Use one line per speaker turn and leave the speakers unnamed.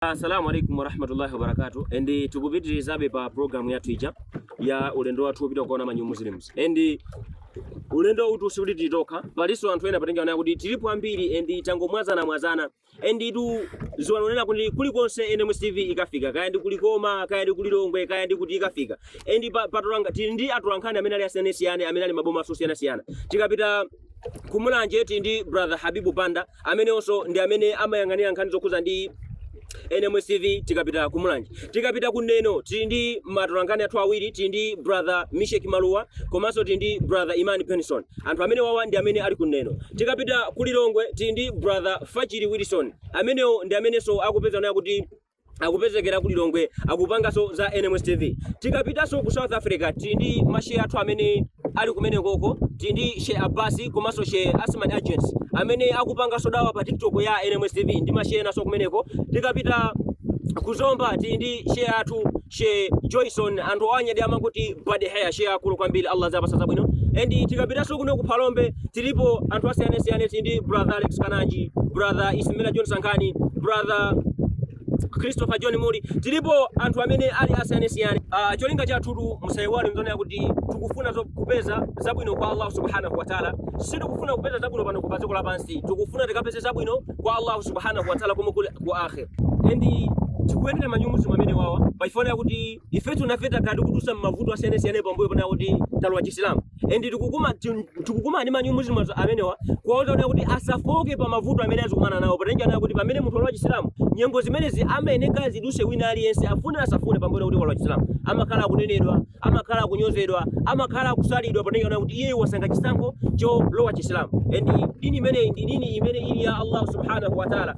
Assalamu alaikum warahmatullahi wabarakatuh and eh, tikupitirizabe pa program yathu ija ya ulendo wathu wopita kukaona manyu muslims and eh, ulendo utu sikuti tili tokha palinso anthu ena potengera zonena kuti tilipo ambiri and tangomwazana mwazana and itu ziwani zonena kuti kulikonse NMS TV ikafika kaya ndi ku Likoma kaya ndi ku Lilongwe kaya ndi kuti ikafika and pa, patolanga tili ndi atolankhani amene ali asiyanasiyana amene ali m'maboma osiyanasiyana tikapita ku mulanje tili ndi brother habibu banda amenewonso ndi amene amayang'anira nkhani zokhuza ndi nms tv tikapita ku mulanje tikapita ku neno tili ndi matolankhani athu awiri tili ndi brother mishek maluwa komanso tili ndi brother imani penson anthu amenewawa ndi amene ali ku neno tikapita ku lilongwe tili ndi brother fachiri wilson amenewo ndi amenenso akupeza naye kuti akupezekera ku Lilongwe akupanganso za NMS TV. Tikapitanso ku South Africa tili ndi mashe athu amene ali kumenekoko, tili ndi Sheikh Abbas komanso Sheikh Asman Agents amene akupanganso dawa pa TikTok ya NMS TV ndi mashe enanso kumeneko. Tikapita ku Zomba tili ndi she athu she Joyson anthu owanyadira amakuti bad hair she akulu kwambiri Allah aziwapasa zabwino and tikapitaso kuno ku Phalombe tilipo anthu asiyanasiyana tili ndi brother Alex Kananji brother Ismaila John Sankhani brother Christopher John Muri tilipo anthu amene ali asiyanasiyana uh, cholinga chathu musaiwale zonena kuti tikufuna zo- kupeza zabwino kwa Allah subhanahu wa ta'ala sitikufuna kupeza zabwino pano pa dziko lapansi tikufuna tikapeze zabwino kwa Allah subhanahu wa ta'ala komwe kuli ku akhir and tikuyendera manyumuzimu amenewawa pachifanira kuti ifetu nafe takhala tikudusa m'mavuto asiyanasiyana pambuyo ponena kuti talowa chisilamu and tikukuma ti- tikukumana ndi manyumuzimu azo- amenewa kuwauza kuti kuti asafooke pa mavuto amene azikumana nawo potengera nawo kuti pamene munthu walowa chisilamu nyengo zimenezi amayeneka ziduse wina aliyense afune asafune pambuyo kuti walowa chisilamu amakhala akunenedwa amakhala akunyozedwa amakhala akusalidwa potengera nawo kuti iye wasankha chisankho cholowa chisilamu and dini imeneyi ndi dini imene ili ya allah subhanahu wa taala